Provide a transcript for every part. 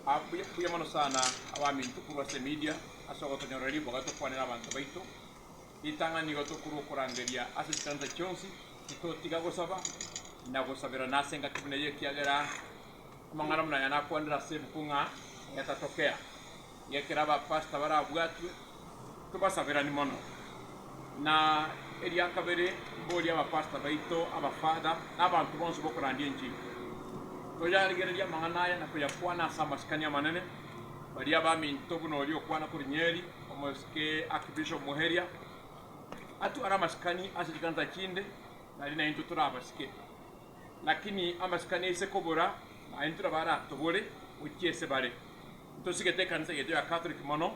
Ah, mbuya, mbuya mono sana abaminto korwa ase emedia, ase ogotonyorera riboga tokwanera abanto baito ritang'ani igo tokorwa okorangeria ase chikanisa chionsi, titotiga gosaba na gosaberana ase engaki buna eye ekiagera amang'ana buna aya nakwanire ase ebuku ng'a, Let Us Talk Here. Ng'ekero abapastor barabwatwe, tobasaberani mono. Na eria kabere, mborie abapastor baito, abafather, na abanto bonsi b'okorandia enchili, toyarigererie amang'ana aya na koyakwana ase amasikani amanene, baria abaminto buna oria okwana korwa Nyeri, omosike Archbishop Muheria, atware amasikani ase chikanisa chinde, nari naintwe tore abasike. Lakini amasikani aise kobora, naintwe nabo aratobore gochia ase bare. Ntosigete ekanisa yaito ya Catholic mono,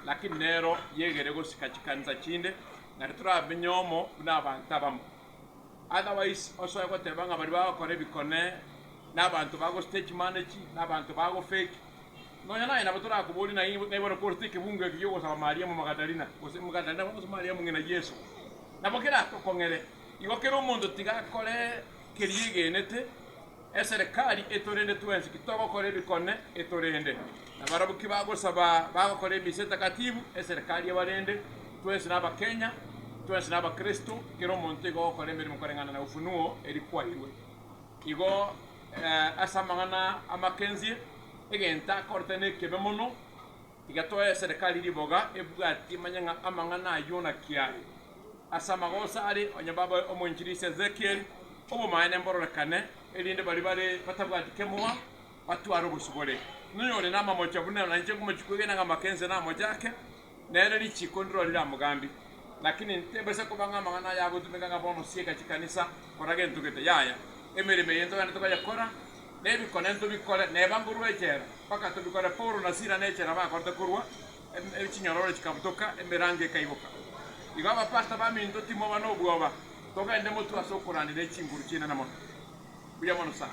lakini nero yegere gosika chikanisa chinde, na titoramenye omo buna abanto abamo. Otherwise osoe goteba ng'a baria bagokora ebikone nabanto ba go stage manage, nabanto ba go fake. Nonya naye nabo torakoborie naye ng'a bono korete ekebungo eke gi'ogosaba Mariamu Magadalina, gose Magadalina bono gose Mariamu ng'ina Yeso. Nabo keratokong'ere. Igo kera omonto tiga akore keria egenete. Eserekari etorende twensi ki togokora ebikone etorende, na barabwo ki bagosaba bagokora emisa etakatifu, eserekari ebarende, twensi na Abakenya, twensi na Abakristo, kera omonto igo ogokora emeremo koreng'ana na Ufunuo eri kwairwe. Igo eh, ase amang'ana amakensie, egento akorete nekebe mono, Tiga toe eserekari riboga ebwati manyang'a amang'ana a Yona kiaye. Ase amagoso aria onye baboe omoinchiri ase Ezekieli, obomaene mbororekane, erinde baria bare batabwati kemoa batware obosibore. Noyore namamocha buna nainche ngomochie kwegena ng'a amakense namochake, nere richiko ndirorire amogambi. Lakini tebesa koba ng'a amang'ana aya agotumeka ng'a bono sieka chikanisa kora gento gete. Yaya, emeremo eye ntogende tokoyekora Nebikone ntobikore, neba nkorua echela, mpaka tobikore. Paulo na Sila nechela bakorete korua, chinyororo chikabutoka, emerango ekaiboka. Igo abapasta baminto timoba nobwoba, togende motwe ase okorania ne chinguru chinene mono, buya mono sana.